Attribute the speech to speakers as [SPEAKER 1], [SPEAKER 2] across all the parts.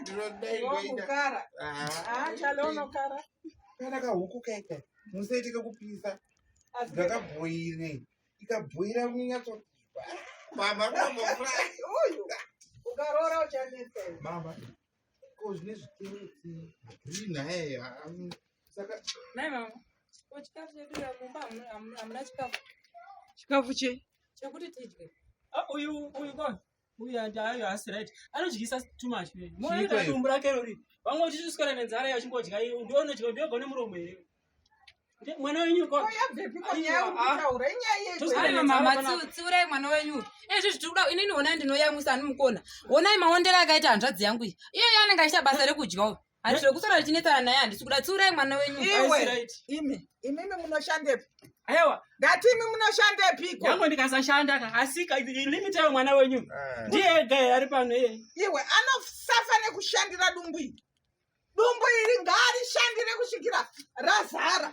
[SPEAKER 1] ndinodaiokukara
[SPEAKER 2] chalounokara kana kahuku
[SPEAKER 1] kaita musaite kakupisa ndakabhoire ikabhoira kunyatso mama kamofura
[SPEAKER 2] uyu ukaroora uchanetsa mama
[SPEAKER 1] ko zvine zvitereti green haye saka nai mama
[SPEAKER 3] ko chikafu chedu mumba hamuna chikafu
[SPEAKER 2] chikafu chei chekuti
[SPEAKER 3] tidye ah, uyu uyu
[SPEAKER 4] kona uyu ayo asi right anodyisa too much moita dumbu rake rori vamwe uchisvisikana nenzara iyo uchingodya iyo ndiwo unodya ndiwo gone muromo
[SPEAKER 3] here mwana wenyu tsiurai mwana wenyu izvi zvitikuda inini honai ndinoyamwisa ani mukona honai maondera akaita hanzvadzi yangu iyi iyoyo anenge achiita basa rekudya uyu Ari zvekusara richinetsana naye handisi kuda tsiurai mwana wenyu. Iwe imi
[SPEAKER 2] imimi munoshandepi? Aiwa
[SPEAKER 4] ndati imi
[SPEAKER 2] munoshandepiko? Yangu ndikasashanda
[SPEAKER 4] ka asi ka limit yayo mwana wenyu. Eh. Ndiye ega here ari pano iye. Iwe
[SPEAKER 2] anosafa nekushandira dumbu iri. Dumbu iri ngaarishandire kusvikira razara.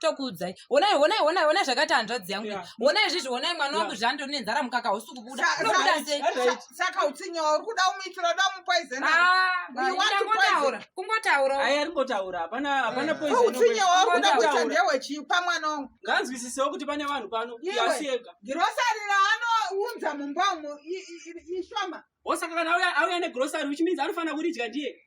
[SPEAKER 3] tokuudzai honai honai honai honai zvakaita hanzvadzi yangu honai izvizvi honai mwana wangu zvandiri nenzara mukaka hausi kubuda unobuda sei saka utsinyawa
[SPEAKER 2] uri kuda umuitira uda umupoizenangotaura ah,
[SPEAKER 3] kungotaura ayi ari ngotaura hapana
[SPEAKER 4] hapana poizenutsinyawa uri kuda
[SPEAKER 2] kuita ndewechii pamwana wangu nganzwisisewo kuti pane
[SPEAKER 4] vanhu pano yasiega girosari
[SPEAKER 2] raanounza mumba umo ishoma osaka kana
[SPEAKER 4] auya negrosari which means anofanira kuridya ndiye